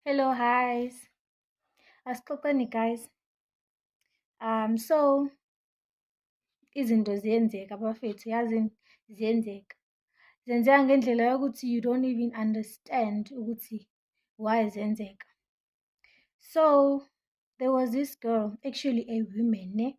Hello, guys. Asixoxeni guys. Um so izinto ziyenzeka bafethu yazi ziyenzeka. Zenzeka ngendlela yokuthi you don't even understand ukuthi why zenzeka. So there was this girl actually a woman ne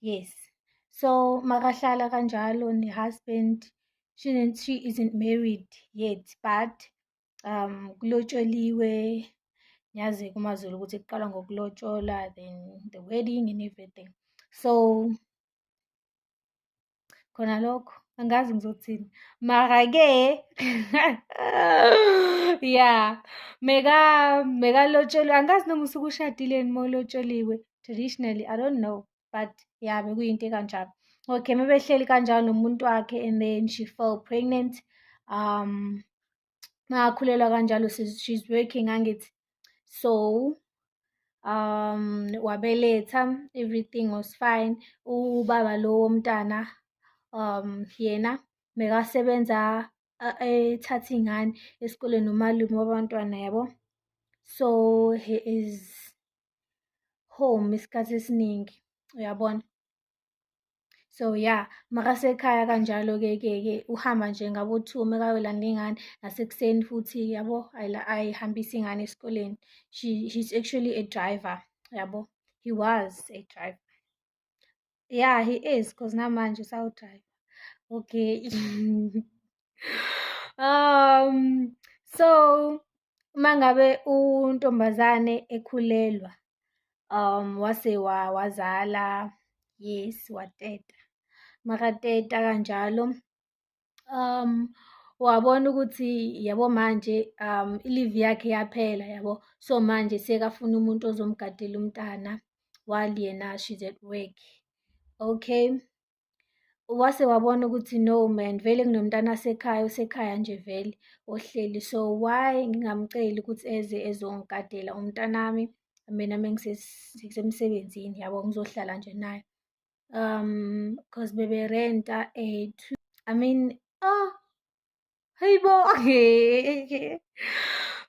yes so makahlala kanjalo ne-husband she, she isn't married yet but um kulotsholiwe nyazi kumazulu ukuthi kuqala ngokulotshola then the wedding and everything so khona lokho angazi ngizothini mara-ke ya mekalotsholwe angazi noma usuke ushadile ni molotsholiwe traditionally i don't know but ya bekuyinto ekanjalo okay mebehleli kanjalo nomuntu wakhe and then she fell pregnant um ngakhulelwa kanjalo she's working angithi so um wabeletha everything was fine ubaba lo womntana um yena mekasebenza ethatha ingane esikoleni nomalume wabantwana yabo so he is home isikhathi esiningi uyabona so ya yeah, makasekhaya kanjalo-ke ke ke uhamba nje ngabo-two mekayolanda ingane nasekuseni futhi yabo ayihambise ingane esikoleni she he's actually a driver yabo he was a driver yeah he is because namanje usawudriver okay um so uma ngabe untombazane ekhulelwa um wase wazala yes wateta makateta kanjalo um wabona ukuthi yabo manje um ilivi yakhe yaphela yabo so manje sekafuna umuntu ozomgadela umntana while yena she's at work okay wase wabona ukuthi no man vele kunomntana asekhaya usekhaya nje vele ohleli so why ngingamceli ukuthi eze ezongigadela umntanami mina mengisemsebenzini yabo ngizohlala nje naye um cause bebe renta a two i mean oh hey bo okay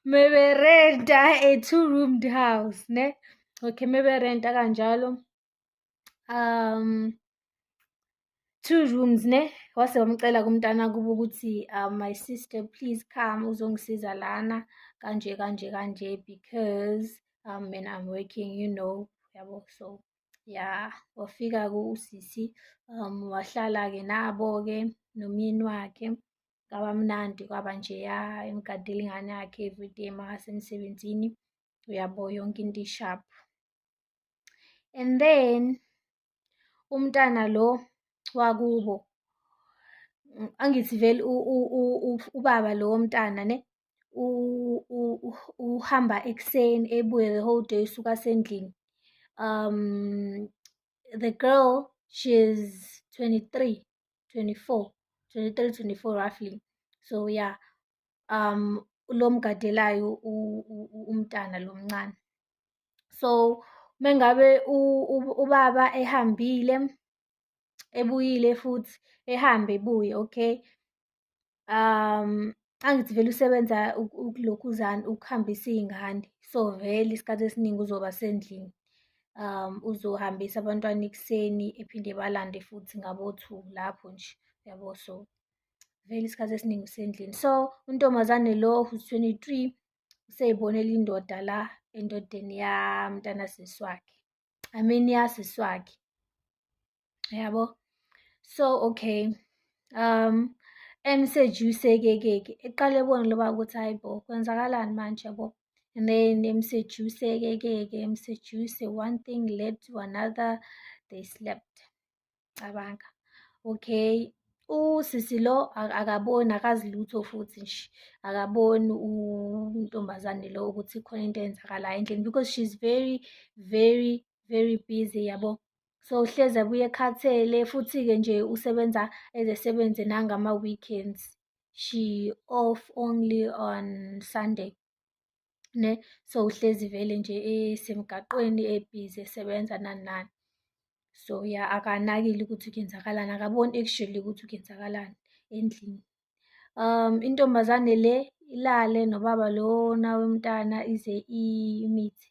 maybe renta a two roomed house ne okay maybe renta kanjalo um two rooms ne wase wamcela kumntana kuba ukuthi um, my sister please come uzongisiza lana kanje kanje kanje because um, mina i'm working you know yabo so ya wafika kusisi um wahlala-ke nabo-ke nomyeni wakhe kwaba mnandi kwaba njeya emgadela ingane yakhe everyday mahasemsebenzini uyabo yonke into ishaphu and then umntana lo wakubo angithi vele ubaba lo womntana ne uhamba ekuseni ebuye the whole day usuka sendlini um the girl she's 23 24 23 24 roughly so yeah um lo mgadelayo umntana lo mncane so mengabe ubaba ehambile ebuyile futhi ehambe ebuye okay um angithi vele usebenza ukulokhuzana ukuhambisa iy'ngane so vele isikhathi esiningi uzoba sendlini um uzohambisa abantwana ekuseni ephinde balande futhi ngabo-two lapho nje yabo so vele isikhathi esiningi usendlini so untombazane lo who's 23 useyibonela indoda la endodeni yamntana sisi wakhe i mean yasisi wakhe yabo so okay um emseji usekekeke eqale ebona loba ukuthi hayi bo kwenzakalani manje yabo and then emseji usekekeke emseji use one thing led to another they slept cabanga okay usisi lo akaboni akazi lutho futhi nje akaboni untombazane lo ukuthi khona into eyenzakalayo endlini because she's very very very busy yabo so uhlezi abuye ekhathele futhi-ke nje usebenza ezesebenze nangama-weekends she off only on sunday ne so uhlezi vele nje esemgaqweni ebhizi esebenza nani nani so ya akanakile ukuthi kuyenzakalani akaboni actually ukuthi kuyenzakalani endlini um intombazane le ilale nobaba lona womntana ize imithi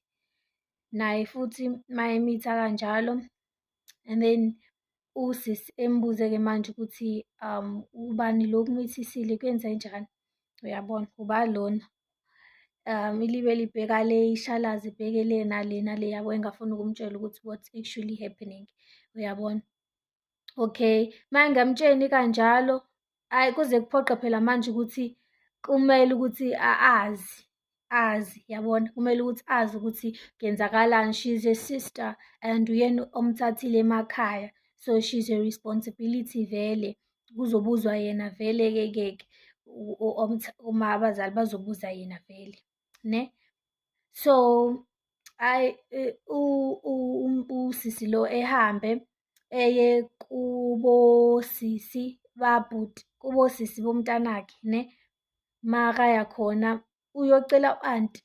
naye futhi mayemithi akanjalo and then usisi embuze-ke manje ukuthi um ubani lo kumithisile kwenze njani uyabona uba lona um ilibe libheka le ishalazi ibheke le nale nale yabo engafuni ukumtshela ukuthi what's actually happening uyabona okay uma engamtsheni kanjalo Hhayi kuze kuphoqe phela manje ukuthi kumele ukuthi azi azi yabona kumele ukuthi azi ukuthi kenzakalani she's a sister and uyena omthathile emakhaya so she's a responsibility vele kuzobuzwa yena vele ke keke uma abazali bazobuza yena vele ne so ayi usisi lo ehambe eye kubosisi babhuti kubosisi bomntanakhe ne makaya khona uyocela u-anti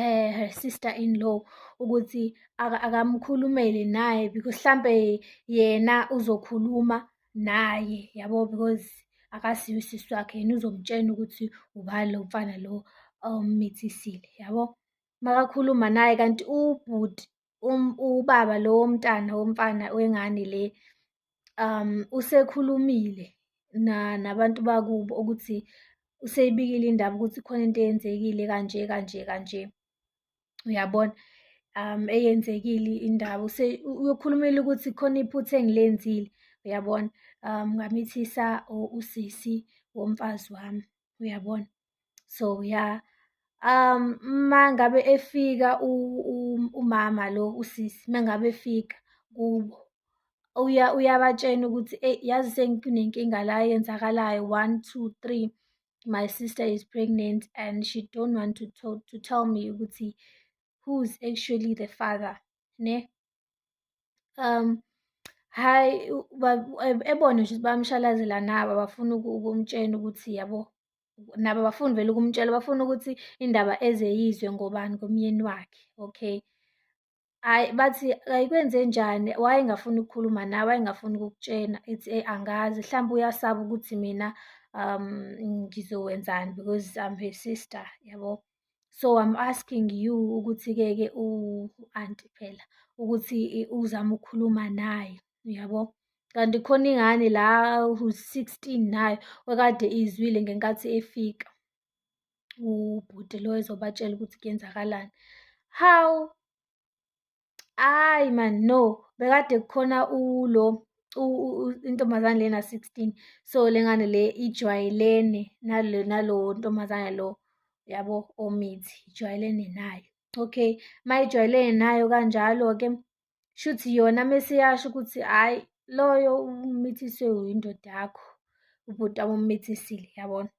eh her sister in law ukuthi akamkhulumele naye because hlambe yena uzokhuluma naye yabo because akasiyo usisi wakhe yena uzomtshena ukuthi ubani lo mfana lo ommithisile um, yabo makakhuluma naye kanti ubhuti um, ubaba lo womntana womfana wengane le um usekhulumile na nabantu bakubo ukuthi useyibikile indaba ukuthi khona into eyenzekile kanje kanje kanje uyabona um eyenzekile indaba uyokhulumela ukuthi khona iphutha engilenzile uyabona um ngamithisa usisi womfazi wami uyabona so ya um uma ngabe efika umama lo usisi uma ngabe efika kubo uya uyabatshena ukuthi eyi yazi senginenkinga la yenzakalayo one two three my sister is pregnant and she don't want to, to, to tell me ukuthi who's actually the father ne um hhayi ebone nje ukuthi bayamshalazela nabo abafuni ukumtshena ukuthi yabo nabo abafuni vele ukumtshela bafuna ukuthi indaba eze yizwe ngobani komyeni wakhe okay Hhayi bathi ayikwenzenjani wayengafuni ukukhuluma nawe wayengafuni ukukutshena ethi eyi angazi mhlawumbe uyasaba ukuthi mina um ngizowenzani because I'm her sister yabo. so I'm asking you ukuthi-ke ke u-anti phela ukuthi uzama ukukhuluma naye uyabo kanti khona ingane la u-16 nayo wekade izwile ngenkathi efika ubhuti lo ezobatshela ukuthi kuyenzakalani how ayi man no bekade kukhona ulo intombazane lena 16 so lengane le ijwayelene nalo nalo ntombazane lo yabo omithi ijwayelene nayo okay mayijwayelene nayo kanjalo ke shuthi yona mesiyasho ukuthi hayi loyo umithiswe uyindoda yakho ubhuti wami ummithisile yabona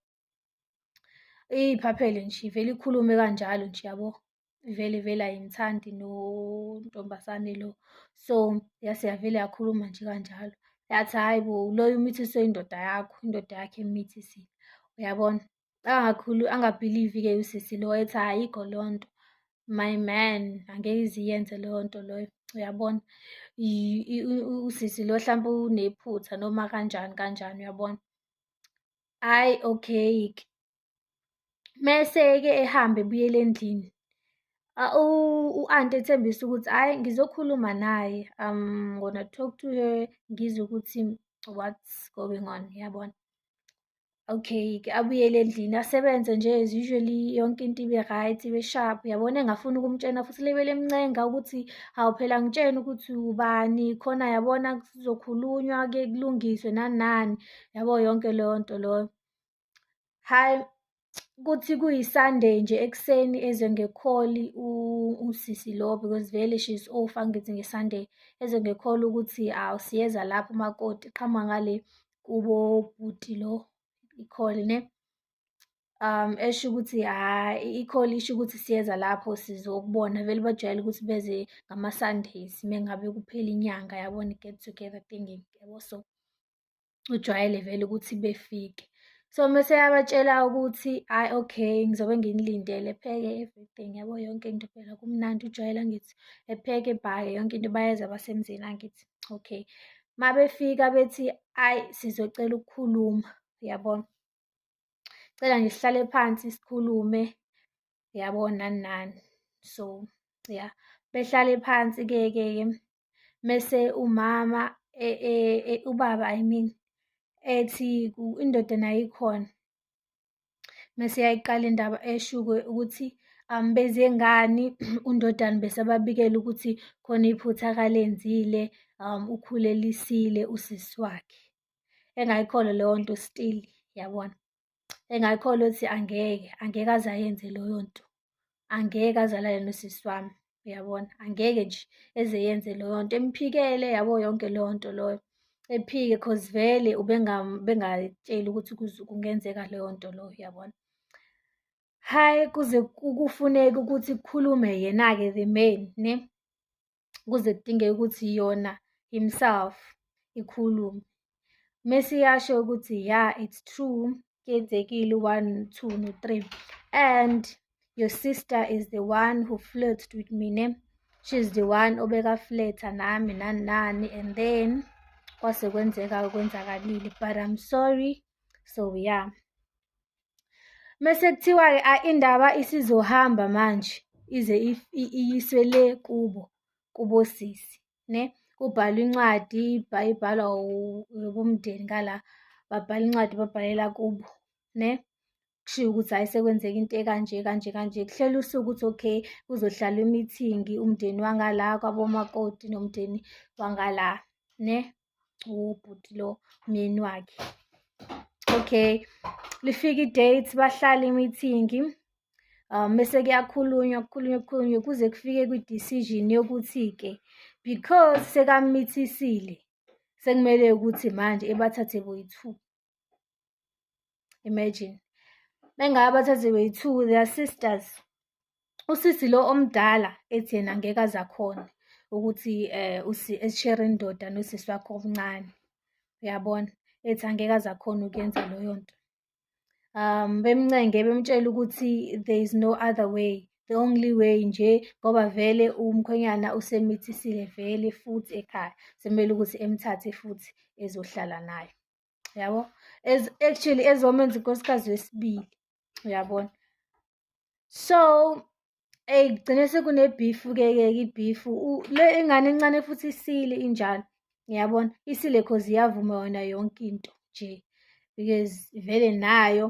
Iphaphele nje ivele ikhulume kanjalo nje yabo vele vele ayimthandi nontombazane lo so yase yavele yakhuluma nje kanjalo yathi hhayi bo loyo umithiswe indoda yakho indoda yakhe emithisiwe uyabona angakhulu angabhilivi-ke usisi lo ethi ayikho lo nto my man angeke iziyenze leyo nto loyo uyabona usisi lo hlampe unephutha noma kanjani kanjani uyabona Hhayi okay-ke. Mese-ke ehambe ebuyela endlini. U-anti ethembisa ukuthi hhayi ngizokhuluma naye, I'm gonna talk to her ngizwe ukuthi what's going on, yabona? Okay-ke abuyele endlini asebenze nje as usually yonke into ibe right, ibe sharp, yabona? Engafuni ukumtshena futhi lebele emncenga ukuthi hawu phela ngitshene ukuthi ubani khona yabona kuzokhulunywa-ke kulungiswe nani nani. yabo yonke leyo nto loyo hayi kuthi kuyisunday nje ekuseni eze ngekholi usisi lo because vele she is off angithi ngesunday eze ngekholi ukuthi awu siyeza lapho umakoti qhama ngale kubo bhuti lo ikholi ne um esho ukuthi hayi ikholi isho ukuthi siyeza lapho sizokubona vele bajwayele ukuthi beze ngama-sundays mengabe kuphela inyanga yabona i-get together thinking yabo so ujwayele vele ukuthi befike so mese yabatshela ukuthi hayi okay ngizobe nginilindele pheke everything yabo yonke into phela kumnandi ujwayela ngithi epheke bhake yonke into bayeza basemzini angithi okay uma befika bethi ayi sizocela ukukhuluma yabona cela nje sihlale phansi sikhulume yabona nani so ya behlale phansi ke ke mese umama e, e, e, ubaba i mean ethi indoda nayo ikhona mese yayiqala indaba eshuke ukuthi um benze ngani undodana besababikela ukuthi khona iphutha akalenzile um ukhulelisile usisi wakhe engayikholwa leyo nto still yabona engakholwa ukuthi angeke angeke aze ayenze loyo nto angeke azalale nosisi wami uyabona angeke nje eze yenze loyo nto emphikele yabo yonke leyo nto loyo ephike cause vele ubengatsheli ukuthi kungenzeka leyo nto loyo uyabona hhayi kuze kufuneke ukuthi kukhulume yena-ke the main ne kuze kudingeke ukuthi yona himself ikhulume mese iyasho ukuthi ya it's true kuyenzekile one two no three and your sister is the one who flirted with mina she's the one obekafletha nami nani nani and then kwase kwenzeka okwenzakalile but i'm sorry so yeah Mese kuthiwa-ke indaba isizohamba manje ize iyiswe le kubo kubosisi ne kubhalwa incwadi ibhalwa ubumndeni ngala babhala incwadi babhalela kubo ne kushiwo ukuthi hhayi sekwenzeka into ekanje kanje kanje kuhlela usuku ukuthi okay kuzohlala imithingi umndeni wangala kwabomakoti nomndeni wangala ne ubhuti lo myeni wakhe okay lifika i-date bahlala imithingi um bese kuyakhulunywa kukhulunywa kukhulunywa kuze kufike kwi-decision yokuthi-ke because sekamithisile sekumele ukuthi manje ebathathe boyi-two imagine bengaba bathathe beyi-two they are sisters usisi lo omdala ethi yena ngeke azakhona ukuthi eh usi eshare indoda nosisi wakho omncane uyabona ethi angeke azakhona ukuyenza loyo nto um bemncenge bemtshela ukuthi there is no other way the only way nje ngoba vele umkhwenyana usemithisile vele futhi ekhaya semele ukuthi emthathe futhi ezohlala naye yabo actually ezomenza unkosikazi wesibili uyabona so eyi kugcine sekunebhifu ke ke ibhifu le ingane encane futhi isile injalo ngiyabona isile cause iyavuma yona yonke into nje because vele nayo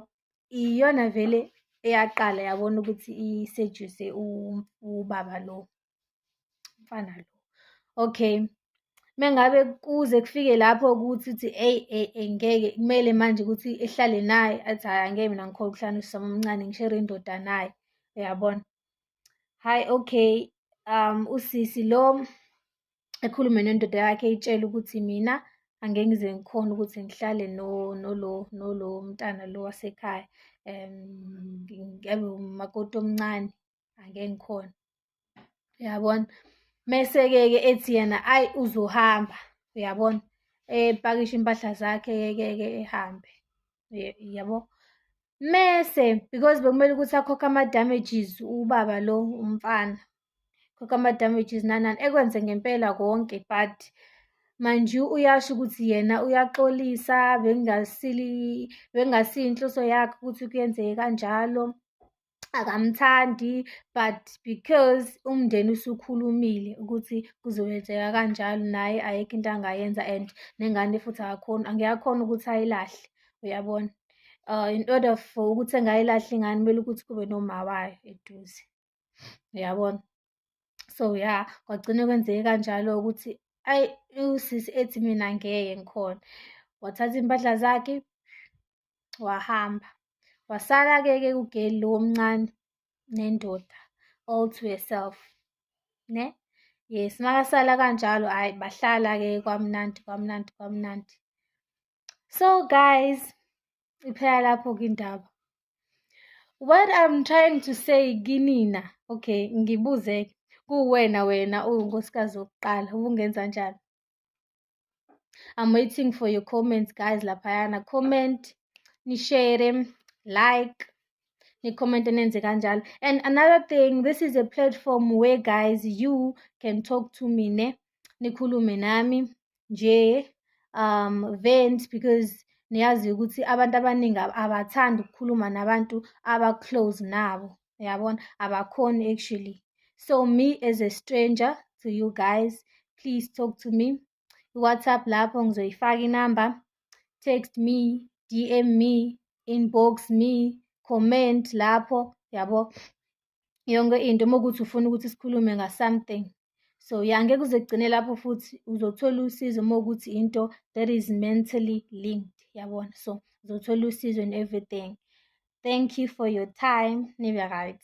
iyona vele eyaqala yabona ukuthi isejuse ubaba lo mfana lo okay mengabe kuze kufike lapho ukuthi uthi eyi eyi eyi ngeke kumele manje ukuthi ehlale naye athi hhayi angeke mina ngikhona ukuhlala usama omncane ngishere indoda naye uyabona hhayi okay um usisi lo ekhulume nendoda yakhe itshela ukuthi mina angeke ngize ngikhona ukuthi ngihlale no nolo nolo mntana lo wasekhaya um ngiyabe umakoti omncane angeke ngikhona uyabona mese-ke ke ethi yena ayi uzohamba uyabona epakisha impahla zakhe ke ke ehambe yabo mese because bekumele ukuthi akhokhe ama-damages ubaba lo umfana khokhe ama-damages nanani ekwenze ngempela konke but manje uyasho ukuthi yena uyaxolisa bengasili bengasiyinhloso yakhe ukuthi kuyenzeke kanjalo akamthandi but because umndeni usukhulumile ukuthi kuzoyenzeka kanjalo naye ayikho into angayenza and nengane futhi akakhoni angiyakhona ukuthi ayilahle uyabona uh, in order for ukuthi engayilahle ingane kumele ukuthi kube noma wayo eduze uyabona so ya yeah, kwagcine kwenzeke kanjalo ukuthi ayi usisi ethi mina ngeke ngikhona wathatha impahla zakhe wahamba wasala-ke ke ugeli lo omncane nendoda all to herself ne yes makasala kanjalo hayi bahlala-ke kwamnandi kwamnandi kwamnandi so guys iphela lapho kindaba what i'm trying to say kinina okay ngibuzeke kuwena wena uwunkosikazi wokuqala ubungenza njani I'm waiting for your comments guys laphayana comment nishare like comment nenze kanjalo and another thing this is a platform where guys you can talk to me ne nikhulume nami nje um vent because niyazi ukuthi abantu abaningi abathandi ukukhuluma nabantu abaclose nabo yabona abakhoni actually so me as a stranger to you guys please talk to me iwhatsapp lapho ngizoyifaka inamba text me dm me inbox me comment lapho yabo yonke into uma ukuthi ufuna ukuthi sikhulume ngasomething so ya ngeke uze kugcine lapho futhi uzothola usizo uma ukuthi into that is mentally linked yabona so uzothola usizo in everything thank you for your time nibe right